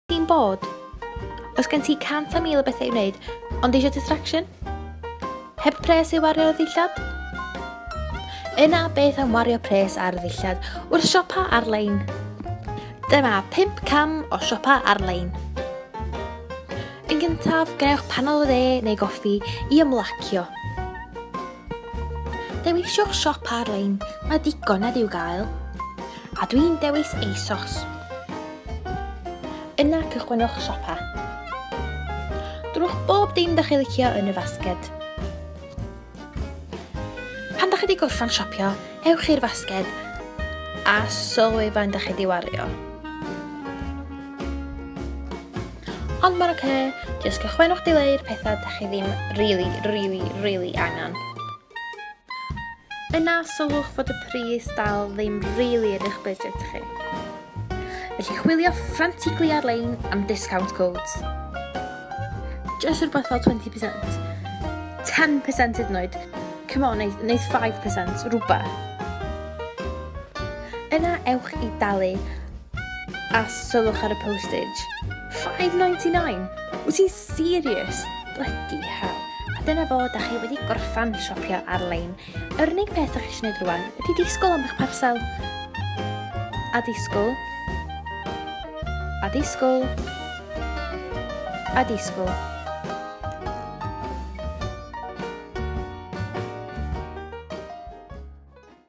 Ti'n bod? Os gen ti cant a mil o bethau i wneud, ond eisiau distraction? Heb pres i wario ar ddillad? Yna beth am wario pres ar ddillad wrth siopa ar-lein? Dyma 5 cam o siopa ar-lein. Yn gyntaf, gwnewch panel o dde neu goffi i ymlacio. Dewiswch siop ar-lein, mae digon nad i'w gael. A dwi'n dewis ASOS. Yna cychwynwch siopa. Drwch bob dim da chi licio yn y fasged. Pan da chi wedi gorffan siopio, ewch i'r fasged a sylwi faint da chi wedi wario. Ond mae'n oce, okay, jyst cychwynwch dileu'r pethau da chi ddim really, really, really angen. Yna sylwch fod y pris dal ddim really yn eich budget chi. Felly chwilio frantically ar-lein am discount codes. Just rhywbeth fel 20%. 10% hyd yn oed. Come on, neu, neu 5%, rhywbeth. Yna ewch i dalu a sylwch ar y postage. 5.99! Wyt ti'n Serious! Blydi hell! A dyna fo, da chi wedi gorffan siopio ar-lein. Yr unig peth da chi eisiau gwneud rwan ydy disgwyl am eich parsel. A disgwyl. A disgwyl. A disgwyl.